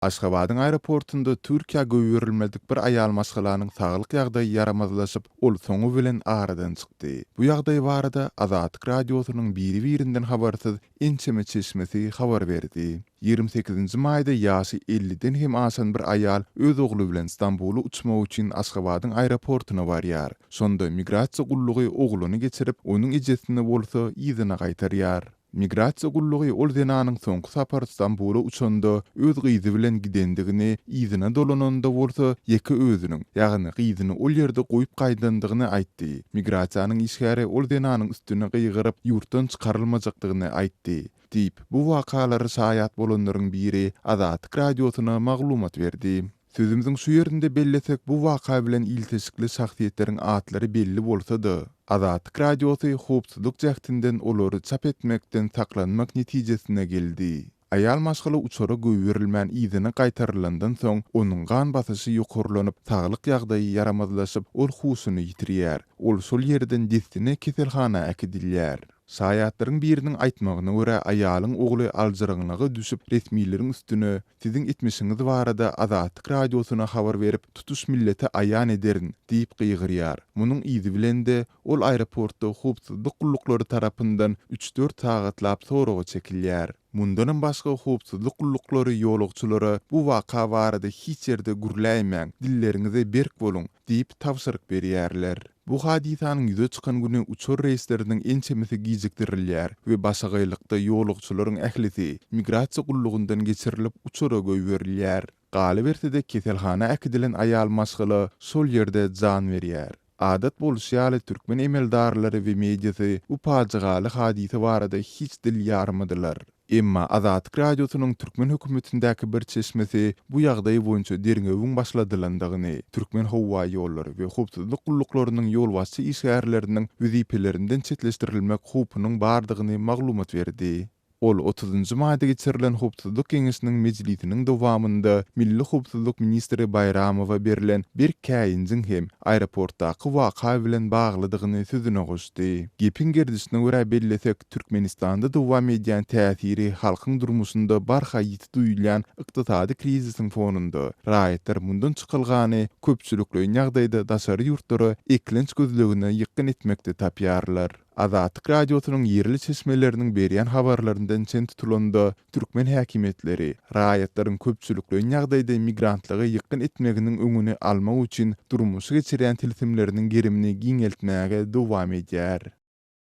Aşgabadyň aeroportunda Türkiýä goýberilmedik bir aýal maşgalanyň saglyk ýagdaýy ýaramazlaşyp, ol soňy bilen aradan çykdy. Bu ýagdaý barada Azatlyk Radiosynyň biri-birinden habarsyz ençeme çeşmesi habar berdi. Ýigrimi sekizinji maýda ýaşy elliden hem aşan bir aýal öz ogly bilen Stambula uçmak üçin Aşgabadyň aeroportuna barýar. Şonda migrasiýa gullugy ogluny geçirip, onuň ejesini bolsa yzyna gaýtarýar. Migrasiýa gullugy ol zenanyň soňky sapar Stambula uçanda öz gyzy bilen gidendigini, yzyna dolananda bolsa ýeke özüniň, ýagny gyzyny ol ýerde goýup gaýdandygyny aýtdy. Migrasiýanyň işgäri ol zenanyň üstüne gygyryp, ýurtdan çykarylmajakdygyny aýtdy, diýip, bu wakalara şaýat bolanlaryň biri Azatlyk Radiosyna maglumat berdi. Sözümiziň şu ýerinde bellesek, bu waka bilen ilteşikli şahsyýetleriň atlary belli bolsa-da, Azatlyk Radiosy howpsuzlyk jähtinden olary çap etmekden saklanmak netijesine geldi. Aýal maşgala uçara goýberilmän yzyna gaýtarylandan soň, onuň gan basyşy ýokarlanyp, saglyk ýagdaýy ýaramazlaşyp, ol huşuny ýitirýär. Ol şol ýerden dessine keselhana äkidilýär. Şaýatlaryň biriniň aýtmagyna görä, aýalyň ogly aljyraňlyga düşüp, resmileriň üstüne, Siziň etmişiňiz barada Azatlyk Radiosyna habar berip, tutuş millete aýan ederin! diýip gygyrýar. Munuň yzy bilen-de, ol aeroportda howpsuzlyk gulluklary tarapyndan üç-dört sagatlap soraga çekilýär. Mundanam başga howpsuzlyk gulluklary ýolagçylara bu waka barada hiç ýerde gürläýmäň, dilleriňize berk boluň! diýip tabşyryk berýärler. Bu hadysanyň ýüze çykan güni uçar reýsleriniň ençemesi gijikdirilýär we başagaýlykda ýolagçylaryň ählisi migrasiýa gullugyndan geçirilip, uçara goýberilýär. Galyberse-de, keselhana äkidilen aýal maşgala şol ýerde jan berýär. Adat bolşy ýaly, türkmen emeldarlary we mediasy bu pajygaly hadysa barada hiç dil ýarmadylar. Emma Azatlyk Radiosynyň türkmen hökümetindäki bir çeşmesi bu ýagdaý boýunça derňewiň başladylandygyny, Türkmenhowaýollary we howpsuzlyk gulluklarynyň ýolbaşçy işgärleriniň wezipelerinden çetleşdirilmek howpunyň bardygyny maglumat berdi. Ol otuzynjy maýda geçirilen Howpsuzlyk geňeşiniň mejlisiniň dowamynda milli howpsuzlyk ministri Baýramowa berlen berk käýinjiň hem aeroportdaky waka bilen baglydygyny sözüne goşdy. Gepiň gerdişine görä bellesek, Türkmenistanda dowam edýän täsiri halkyň durmuşynda barha ýiti duýulýan ykdysady krizisiň fonunda, raýatlar mundan çykalgany köpçülikleýin ýagdaýda daşary ýurtlara eklenç gözlegine ýykgyn etmekde tapýarlar. Azatlyk Radiosynyň ýerli çeşmeleriniň berýän habarlaryndan çen tutulanda, türkmen häkimiýetleri raýatlaryň köpçülikleýin ýagdaýda migrantlygy ýykgyn etmeginiň öňüni almak üçin durmuşa geçirýän tilsimleriniň gerimini giňeltmäge dowam edýär.